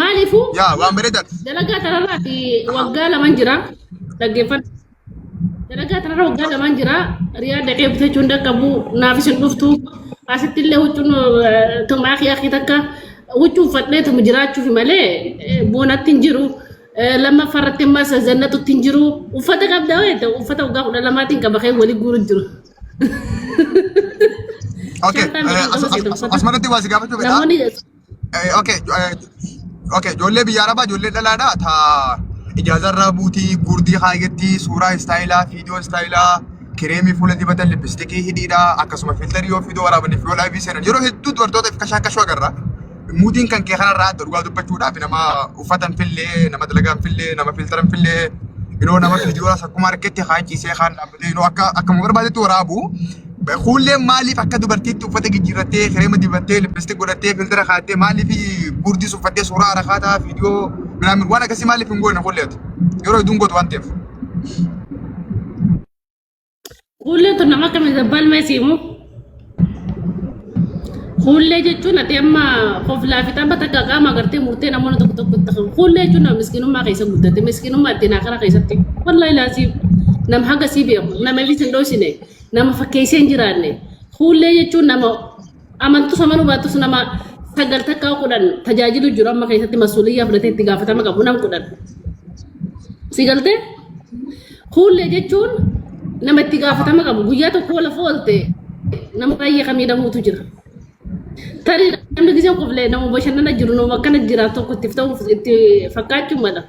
Maaliifuu Yaa waan bareedan. dalagaa tanarraati waggaa lamaan jira dhaggeeffadha. Dalagaa tanarra waggaa lamaan jira riyaa dhaqee bitachuu hin dhaqqabu naafis hin dhuftu asitti illee huccuun tumaa kee akki takka huccuu uffadhee tumu jiraachuuf malee eh, boonatti hin jiru. Eh, Lammaffaa irratti ammas zannatutti hin jiru uffata qabda wayiita uffata waggaa kudha lamaatiin qaba kee walii guuru jiru. Okay. Shantaan eh, as- as- as- Asmaratti waa si gaafachuu fedha. Namoonni Eh, Okay, eh, okay, ijoollee biyya arabaa ijoollee dhalaadha. Ta ijaazarraa buutii gurdii kaayyatti suuraa istaayilaa, viidiyoo istaayilaa, kireemii fuula dibatan, lippistikii hidhiidha, akkasuma filtarii yoo viidiyoo waraabaniif yoo laayivii seenan yeroo hedduu dubartoota if kashaan kashuu agarra. Muudiin kan kee kanarraa adda dhugaa dubbachuudhaaf nama uffatan fillee, nama dalagaan fillee, nama filtaran fillee, yeroo nama viidiyoo akkuma argetti kaan ciisee kaan dhaabbatee yeroo akka akkuma barbaadetti waraabu. Kuulleen maaliif akka dubartiitti uffata jijjiirrattee, kireema dibattee, lippisti godhattee, filtira kaattee, maaliif guurdis uffattee suuraa harakaataa, viidiyoo, minaamin waan akkasii maaliif hin goone kuulleetu. Yeroo hedduun gootu waan ta'eef. Kuulleen tun nama akkamiin zabbaan mee siimu? Kuullee jechuun ati amma koflaa fi tapha takka qaama agartee murtee namoonni tokko tokko itti qabu. Kuullee jechuun nama miskiinummaa keessa guddate, miskiinummaa ittiin akara keessatti. Wallahi laasiif nam haga sii beeku, nama illee sin dhoosine. Nama fakkeessee hin jiraanne. Fuullee jechuun nama amantus amanuu baattus nama sagal takkaa kudhan tajaajilu jiru amma keessatti masuuliyyaa fudhatee itti gaafatama qabu nam kudhan. Si galtee? Fuullee jechuun nama itti gaafatama qabu guyyaa tokko lafa oolte nama baay'ee kan miidhamuutu jira. Tarii namni gisee quflee nama bashannana jiru nama akkana jiraatu tokko itti ta'uuf itti fakkaachuu mala.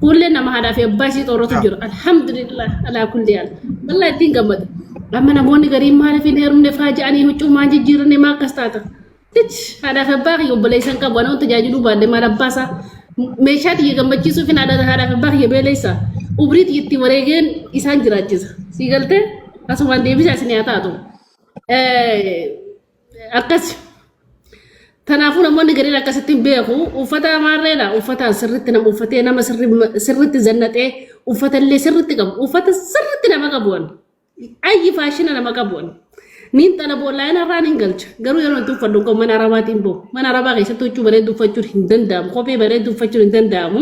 Kuullee nama haadhaa fi abbaa isii xooratu jira. Alhamdulillah alaa kulli haal. Wallah ittiin gammada. Amma namoonni gariin maaliif hin heerumne faa ja'anii huccuu maan jijjiiranne maa akkas taata. Tich haadhaa fi abbaa kiyya obboleessan qabu anoo tajaajiluu baadde maal abbaa isaa meeshaa tiyya gammachiisuuf hin haadhaa haadhaa fi abbaa kiyya beeleessa. Ubrii tiyya itti wareegeen isaan jiraachisa. Sii galtee asumaan deebisaa isin haa taatu. Eh, akkas kanaafuu namoonni gariin akkasitti hin beeku uffata amaarreedha uffataan sirritti nama uffatee nama sirri- sirritti zannatee uffata illee sirritti qabu uffata sirritti nama qabuun ayyi faashina nama qabuun niin xala boolaayina irraa niin galcha garuu yeroo itti uffadhu kun mana arabaatiin boo mana arabaa keessatti huccuu bareedu uffachuun hin danda'amu kophee bareedu uffachuun hin danda'amu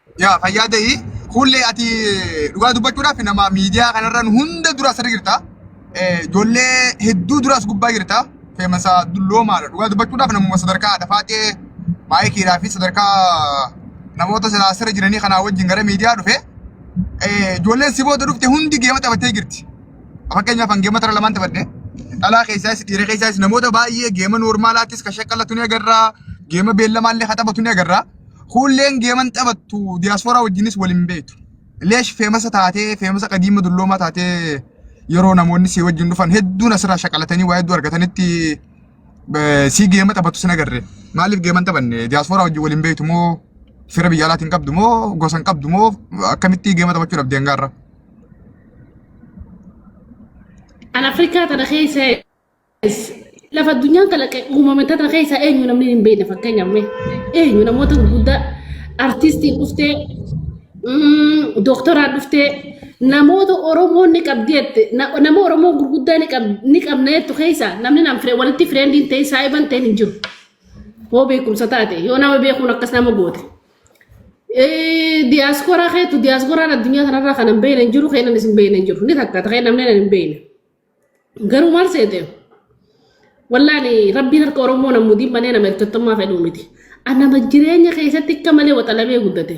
Yaa fayyaa ta'ii kuullee ati dhugaa dubbachuudhaaf nama miidiyaa kanarran hunda dura asirra jirta. Ijoollee hedduu duras gubbaa jirta. Feemasa dulloomaadha. Dhugaa dubbachuudhaaf namuma sadarkaa dhafaaxee maayikiidhaa fi sadarkaa namoota silaa asirra jiranii kanaa wajjin gara miidiyaa dhufe. Ijoolleen si booda dhufte hundi geema taphattee jirti. Fakkeenyaaf an geema tara lamaan taphadhe. Dhalaa keessaas dhiira keessaas namoota baay'ee geema noormaalaattis kan shaqqallatu ni agarra. Geema beellamaallee kan taphatu ni agarra. Kuulleen geeman taphattu diyaaspooraa wajjinis wal hin beektu. Leesh feemasa taatee feemasa qadiima dulloomaa taatee yeroo namoonni si wajjin dhufan hedduun asirraa shaqalatanii waa hedduu argatanitti eh, si geema taphattu sin agarre. Maaliif geeman taphanne diyaaspooraa wajjin wal hin beektu moo fira biyya alaatiin qabdu moo gosa hin qabdu moo akkamitti geema taphachuu dhabde hangaarra. An Afrikaa tana keessa Lafa addunyaan kalaqe uumame tana keessaa eenyu namni hin beekne fakkeenyaaf mee eenyu namoota gurguddaa artistiin dhuftee dooktoraan dhuftee namoota Oromoo ni qabdi jette nama Oromoo gurguddaa ni qabna jettu keessaa namni nam firee walitti fireendiin ta'e saayiban ta'e hin jiru. Hoo beekumsa taate yoo nama beekuun akkas nama goote. Diyaaskooraa keetu diyaaskoraan addunyaa kanarraa kan hin beekne hin jiru keenan isin beekne hin jiru ni takka ta'e namni hin beekne. Garuu maal seete? Wallaani rabbiin harka Oromoo nan mudiin malee nama ergattummaa fedhuu miti. An nama jireenya keessatti akka malee waxalamee guddate.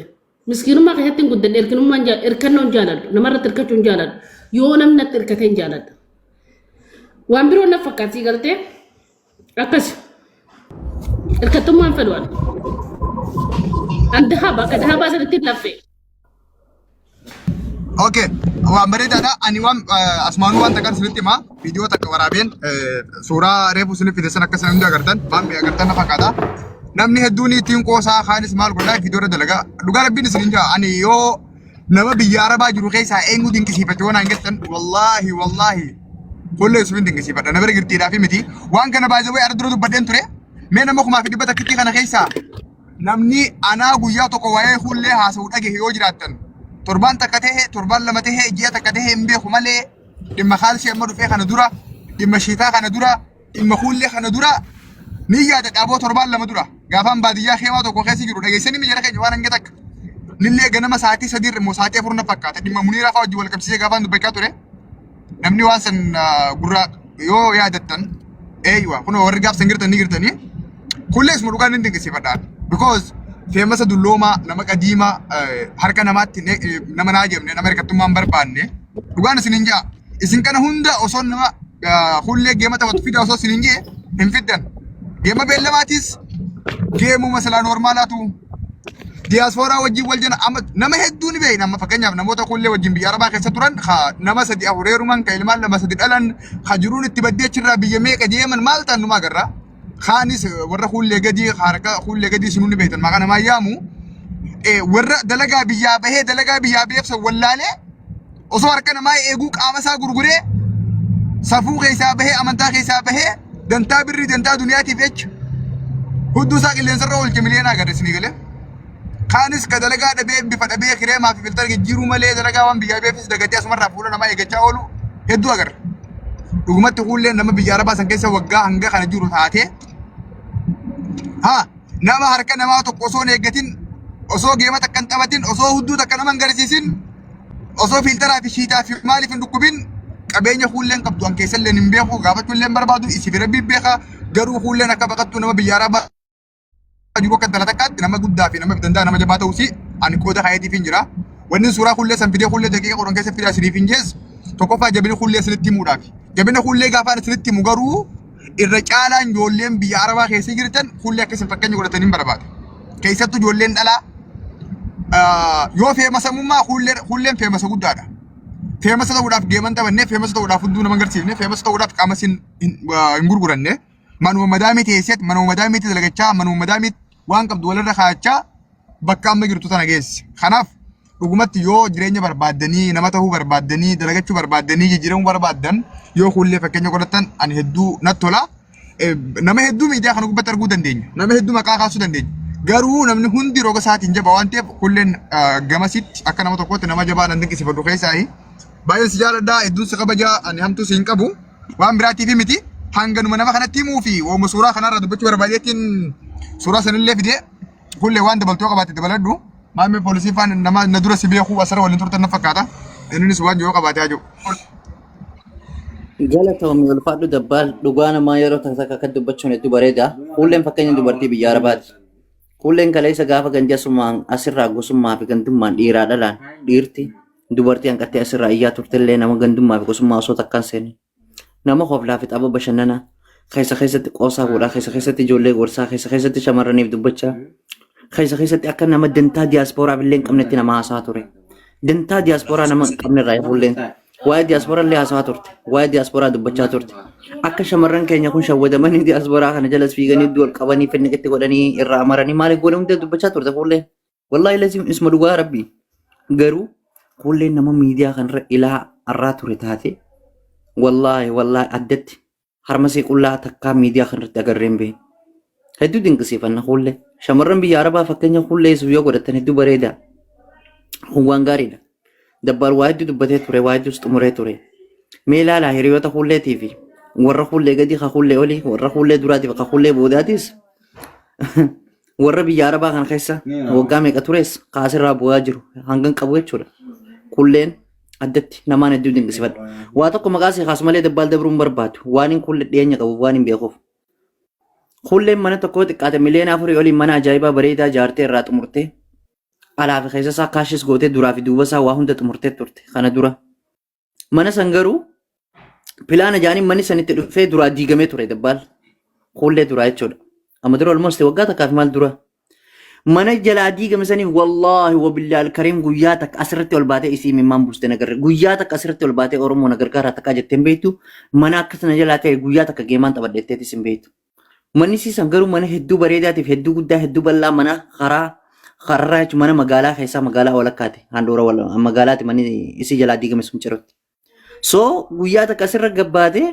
Miskiinummaa keessatti hin guddadhe erkinummaan jaa- erkannoo hin jaaladhu. Namarratti erkachuu hin jaaladhu. Yoo namni natti erkatee hin jaaladhu. Waan biroo naf fakkaattii galtee? Akkasi. Hirkattummaan fedhu ani. An dahaba akka dahabaa sanitti hin laffee. Okay, waan bareedaadha. Ani waan eh, asmaanuu waan takkan isinitti himaa. Viidiyoo takka waraabeen eh, suuraa reefu isiniif fide san akka isin hundi agartan, waan bee agartan na fakkaata. Namni hedduun ittiin qoosaa kaanis maal godhaa viidiyoo irra dalagaa. Dhugaa rabbiin isin hin jaa. Ani yoo nama biyya arabaa jiru keessaa eenyu dinqisiifachuu waan hin jettan wallaahi wallaahi fuullee Yusufiin dinqisiifadha na bira jirtiidhaa fi miti waan kana baay'ee wayii ardura dubbadheen ture mee nama kumaa fi dhibba takkitti kana keessaa namni anaa guyyaa tokko waa'ee fuullee haasa'u dhagehe yoo jiraattan torbaan takka ta'e torbaan lama ta'e ji'a takka ta'e hin beeku malee dhimma kaalsii amma dhufee kana dura dhimma shiitaa kana dura Dhimma kuullee kana dura ni yaada dhaaboo torbaan lama dura gaafaan baadiyyaa keemaa tokko keessa jiru dhageessanii mi jara keenya waan hanga takka. Nillee ganama sa'aatii sadii irra immoo sa'aatii afur na fakkaata dhimma muniiraa fa'aa wajjin wal qabsiisee gaafaan dubbachaa ture. Namni waan san ah, gurra yoo yaadattan eeyyuwa kun warri gaafsan girtan ni girtanii. Kullees mu dhugaan ni dinqisiifadhaan. Because feemasa dulloomaa nama qadiimaa eh, harka namaatti ne- eh, nama naa jemne nama hirkattummaan barbaanne dhugaan isin hin jaa. Isin kana hunda osoo nama hullee geema taphatu fida osoo isin hin jee hin fiddan. Geema beellamaatis geemuma silaa normaalaatu diyaaspooraa wajjin wal jala amma nama hedduu ni beekna amma fakkeenyaaf namoota hullee wajjin biyya arabaa keessa turan ka nama sadi afureeruman ka ilmaan lama sadi dhalan ka jiruun itti baddee achirraa biyya meeqa deeman maal ta'an numaa agarra. kaanis warra kuullee gadii harka kuullee gadii isin hundi beektan maqaa namaa yaamu eh, warra dalagaa biyyaa bahee dalagaa biyyaa beeksan wallaalee osoo harka namaa eeguu qaama isaa gurguree safuu keessaa bahee amantaa keessaa bahee dantaa birrii dantaa duniyaatiif jecha hudduu isaa qilleensarra oolche miliyoonaa agarre isinii galee. Kaanis ka dalagaa dhabee bifa dhabee kireemaa fi filtara jijjiiruu malee dalagaa waan biyyaa beefis dagatee asumarraa fuula namaa eeggachaa oolu hedduu agarra. dhugumatti kuullee nama biyya arabaa san keessa waggaa hanga kana jiru taatee ha nama harka namaa tokko osoo hin eeggatin osoo geema takka hin taphatin osoo hudduu takka nama hin garisiisin osoo fiiltaraa fi shiitaa fi maaliif hin dhukkubin qabeenya kuulleen qabdu an keessallee hin beeku gaafachuullee hin barbaadu isiif rabbi beeka garuu kuulleen akka baqattuu nama biyya arabaa jiru akka intala takkaatti nama guddaa fi nama danda'a nama jabaa ta'uu si ani qooda kaayatiif hin jira. Wanni suuraa kullee san fidee kullee daqiiqa qoran keessa fidaa isiniif hin jees tokkoffaa jabina kullee isinitti himuudhaaf. Jabina kullee gaafaan isinitti himu garuu irra caalaan ijoolleen biyya arabaa keessa jirtan kullee akka isin fakkeenya godhatan hin barbaada. Keessattuu ijoolleen dhalaa ah, yoo feemasamummaa kullee kulleen feemasa guddaadha. Feemasa ta'uudhaaf geeman taphannee feemasa ta'uudhaaf hunduu nama hin garsiifne feemasa ta'uudhaaf qaama isin hin ah, hin gurguranne. Manuma madaamii teesseet manuma madaamiitti dalagachaa manuma madaamiitti waan qabdu walirra kaa'achaa bakka amma jirtu tana geesse. Kanaaf dhugumatti yoo jireenya barbaaddanii nama ta'uu barbaaddanii dalagachuu barbaaddanii jijjiiramuu barbaaddan yoo kuullee fakkeenya godhatan ani hedduu natti tola. Eh, Nama hedduu miidiyaa kana gubbatti arguu dandeenya. Nama hedduu maqaa kaasuu dandeenya. Garuu namni hundi roga isaatiin jaba waan ta'eef kuulleen ah, gamasitti akka nama tokkootti nama jabaa nan dinqisiifadhu keessaayi. Baay'een si jaaladha hedduun si kabaja ani hamtuu si hin qabu. waan biraatiif miti hanganuma nama kanatti himuu fi ooma suuraa kanarraa dubbachuu barbaadeetiin suuraa sanillee fidee kullee waan dabaltoo qabaate dabaladhu maammee poolisii faan nama na dura si beekuu asirra waliin turtan na fakkaata innis waan yoo qabaate haa jiru. Galatoomii ulfaadhu dabbaal dhugaa namaa yeroo takka takka akka dubbachuun hedduu bareeda. Kuulleen fakkeenya dubartii biyya Arabaati. Kuulleen kaleessa gaafa ganjasumaan asirraa gosummaa fi gandummaan dhiiraa dhalaan dhiirti Dubartii hanqattee asirraa iyyaa turtellee nama gandummaa fi gosummaa osoo takkaan seene. Nama hoflaa fi tapha bashannanaa keessa keessatti qoosaa godhaa, keessa keessatti ijoollee gorsaa, keessa keessatti shamarraniif dubbachaa, keessa keessatti akka nama dantaa diyaaspooraaf illee hin qabnetti nama haasaa ture. Dantaa diyaaspooraa nama hin qabne irraa ifuulleen waa'ee diyaaspooraa illee haasaa turte, waa'ee diyaaspooraa dubbachaa turte. Akka shamarran keenya kun shawwadamanii diyaaspooraa kana jalas fiiganii iddoo ol qabanii finniqitti godhanii irraa amaranii maaliif godhan hunda dubbachaa turte fuulleen. Wallaahi laziim isuma dhugaa rabbii. Garuu kuulleen nama miidiyaa kanarra ilaa arraa ture taate wallaahi wallaahi addatti harmasee qullaa takkaa miidiyaa kanarratti agarreen bee. Hedduu dinqisiifanna kuullee. Shamarran biyya Arabaa fakkeenya kuullee isuuf yoo godhattan hedduu bareeda. Kun waan gaariidha. Dabbaal waa hedduu dubbatee ture, waa hedduus xumuree ture. Mee ilaalaa hiriyoota kuulleetii fi warra kuullee gadii ka kuullee olii, warra kuullee duraatii fi ka kuullee boodaatiis warra biyya Arabaa kana keessa waggaa meeqa tures ka asirraa bu'aa jiru hangan qabu jechuudha. Kuulleen addatti namaan hedduu dinqisifadha. Waa tokko maqaa si kaasu malee dabbaal dabruu hin barbaadu. Waan hin kuullee dhiyeenya qabu waan hin beekuuf. Kuulleen mana tokkoo xiqqaate miliyoona afurii oliin mana ajaa'ibaa bareedaa jaartee irraa xumurtee alaa fi keessa isaa kaashis gootee duraa fi duuba isaa waa hunda xumurtee turte kana dura. Mana san garuu pilaana jaaniin manni san itti dhufee duraa diigamee ture dabbaal. Kuullee duraa jechuudha. Amma dura almost waggaa takkaa fi maal dura. Mana jalaa diigame saniif wallaahi wabillaal kariim guyyaa takka asirratti ol baatee isii mimmaan buuste nagarre. Guyyaa takka asirratti ol baatee Oromoo nagargaaraa takkaa jettee hin beektu. Mana akkas na jalaa ta'e guyyaa takka geemaan taphadheetteetis hin beektu. Manni siisan garuu mana hedduu bareedaatiif hedduu guddaa hedduu bal'aa mana karaa kararraa jechuun mana magaalaa keessaa magaalaa walakkaati handhuura wal- magaalaati manni isii jalaa diigame sun cirutti. So guyyaa takka asirra gabbaate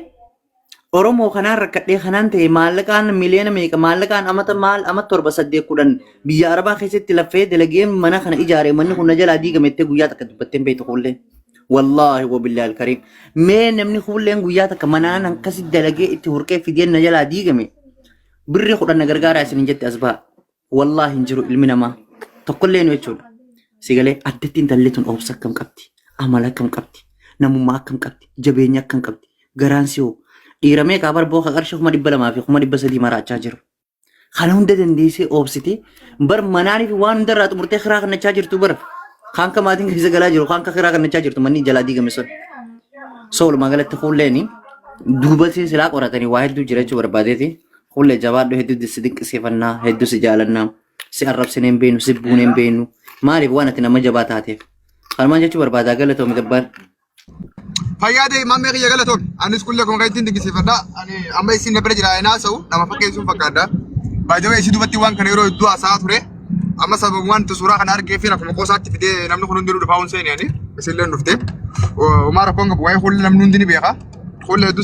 Oromoo kanaan rakkadhee kanaan ta'e maallaqaan miliyoona meeqa maallaqaan amata maal amata torba saddeet kudhan biyya arabaa keessatti laffee dalageen mana kana ijaare manni kun na jalaa diigame jettee guyyaa takka dubbattee hin beektu kuullee. Wallaahi wabillahi alkariim. Mee namni kuulleen guyyaa takka manaan akkasi dalagee itti hurqee fidee na jalaa diigame birri kudhan na gargaaraa isin hin jette as baha. Wallaahi hin jiru ilmi namaa tokkollee nu jechuudha. Sigalee addatti intalli tun obsa akkam qabdi amala akkam qabdi namummaa akkam qabdi jabeenya akkam qabdi garaan si hoo dhiiramee kaa barboo ka qarshii kuma dhibba lamaa fi kuma dhibba sadii maraachaa jiru. Kana hunda dandeessee oobsitee bar manaanii fi waan hundarraa xumurtee kiraa kannachaa jirtu bara. Kaan ka maatiin keessa galaa jiru kaan ka kiraa kannachaa jirtu manni jalaa diigame sun. So walumaa galatti kuulleen duubasiin silaa qoratanii waa hedduu jiraachuu barbaadeeti. Kuullee jabaadhu hedduu si dinqisiifannaa hedduu si jaalannaa si arrabsinee hin beeknu si buunee hin beeknu maaliif waan ati nama jabaa taateef. Kanumaan jechuu barbaadaa galatoomi gabbaar. Fayyaa ta'e mammee kiyya galatoom. Anis kulle kun kan ittiin dinqisiifadha. Ani amma isin na bira jira hin haasa'u. Nama fakkeessuun fakkaadha. Baajawee isii dubbatti waan kana yeroo hedduu haasa'aa ture. Amma sababa waan suuraa kana argee fi akkuma qoosaatti fidee namni kun hundinuu dhufaa hin seeni ani. Isin illee hin dhufte. Umaa rakkoon qabu waa'ee kulle namni hundi ni beeka. Kulle hedduu